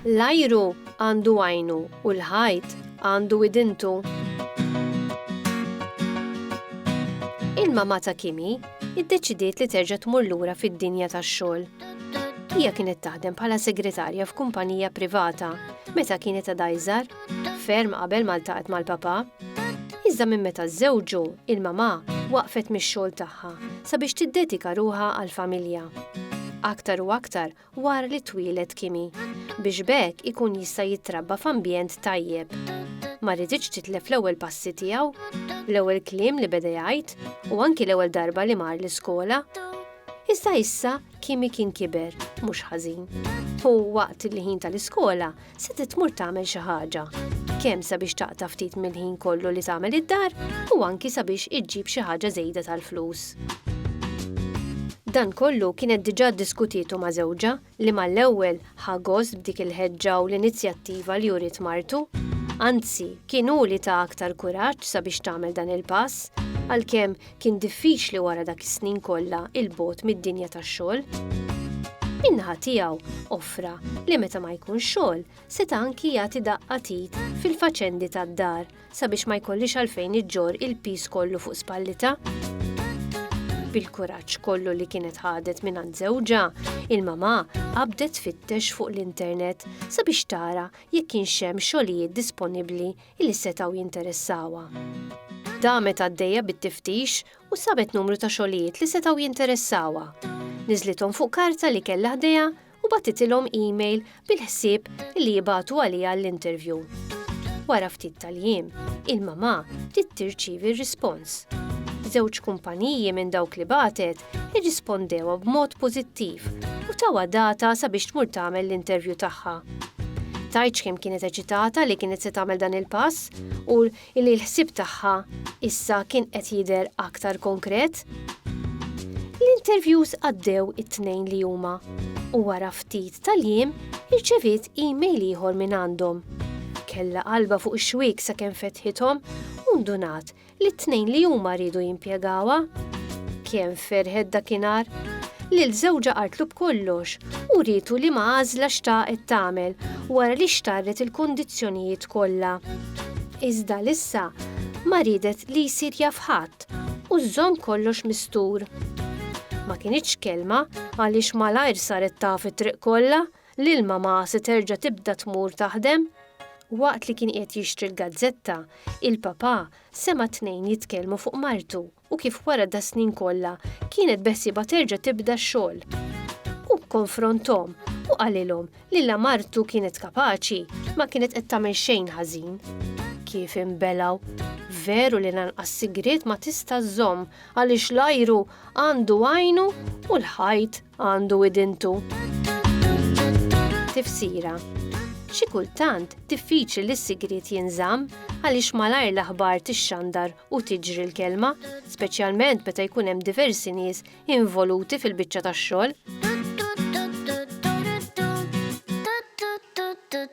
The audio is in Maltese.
L-ajru għandu għajnu u l-ħajt għandu widintu. Il-mamata Kimi iddeċidiet li terġa' tmur lura fid-dinja tax-xogħol. Hija kienet taħdem bħala segretarja f'kumpanija privata meta kienet għadha iżgħar, ferm qabel ma ltaqgħet mal-papa. Iżda minn meta żżewġu, il-mamà waqfet mix-xogħol tagħha sabiex tiddedika ruħha għall-familja. Aktar u aktar wara li twieled Kimi, biex b'hekk ikun jista' jitrabba f'ambjent tajjeb. Ma riditx titlef l-ewwel passi tiegħu, l-ewwel kliem li beda jgħid u anki l-ewwel darba li mar l-iskola. Iżda issa Kimi kien kiber, mhux ħażin. U waqt il-ħin tal-iskola, se titmur tagħmel xi ħaġa, kemm sabiex taqta' ftit mill-ħin kollu li tagħmel id-dar u anki sabiex iġġib xi ħaġa żejda tal-flus. Dan kollu kienet diġà ddiskutietu ma' żewġha li mal-ewwel ħa gost b'dik il-ħeġġa u l-inizjattiva li uriet martu. Anzi, kien hu li ta aktar kuraġġ sabiex tagħmel dan il-pass, għalkemm kien diffiċli wara dak is-snin kollha il-bogħod mid-dinja tax-xogħol. Min-naħa tiegħu offra li meta ma jkun xogħol seta' anki jagħti daqqa tit fil-faċendi tad-dar sabiex ma jkollix għalfejn iġġor il-piż kollu fuq spallita. Bil-kuraġġ kollu li kienet ħadet minn għand żewġha, il-mamà qabdet fittex fuq l-internet sabiex tara jekk kienx hemm xogħlijiet disponibbli li setgħu jinteressawha. Damet għaddejja bit-tiftix u sabet numru ta' xogħlijiet li setgħu jinteressawha. Niżlithom fuq karta li kellha ħdejha u bagħtitilhom email bil-ħsieb li jibagħtu għaliha l-interview. Wara ftit tal-jiem, il-mamà bdiet tirċievi r-rispons. Żewġ kumpaniji minn dawk li bagħtet irrispondewha b'mod pożittiv u tawha data sabiex tmur tagħmel l-intervju tagħha. Tgħidx kemm kienet eċitata li kienet se tagħmel dan il-pass u li l-ħsieb tagħha issa kien qed jidher aktar konkret. L-interviews għaddew it-tnejn li huma u wara ftit tal-jiem irċeviet email ieħor minn għandhom. Kella qalba fuq ix-xwiek sakemm fetħithom u ndunat li t-tnejn li huma riedu jimpjegawha. Kemm ferħet dakinhar! Lil żewġha qaltlu b'kollox u rietu li ma għażla xtaqet tagħmel wara li xtarret il-kondizzjonijiet kollha. Iżda lissa ma riedet li jsir jaf ħadd u żżomm kollox mistur. Ma kinitx kelma għaliex malajr saret taf it-triq kollha Lil mamà se terġa' tibda tmur taħdem? Waqt li kien qiegħed jixtri l-gazzetta, il-papà sema' tnejn jitkellmu fuq martu u kif wara das-snin kollha kienet beħsiebha terġa' tibda x-xogħol. Hu kkonfronthom u qalilhom li la martu kienet kapaċi ma kienet qed tagħmel xejn ħażin. Kif inbelgħu! Veru li lanqas sigriet ma tista' żżomm għaliex l-ajru għandu għajnu u l-ħajt Għandu idintu. Tifsira Xi kultant diffiċli li s-sigriet jinżamm għaliex malajr l-aħbar tixxandar u tiġri l-kelma, speċjalment meta jkun hemm diversi nies involuti fil-biċċa tax-xogħol.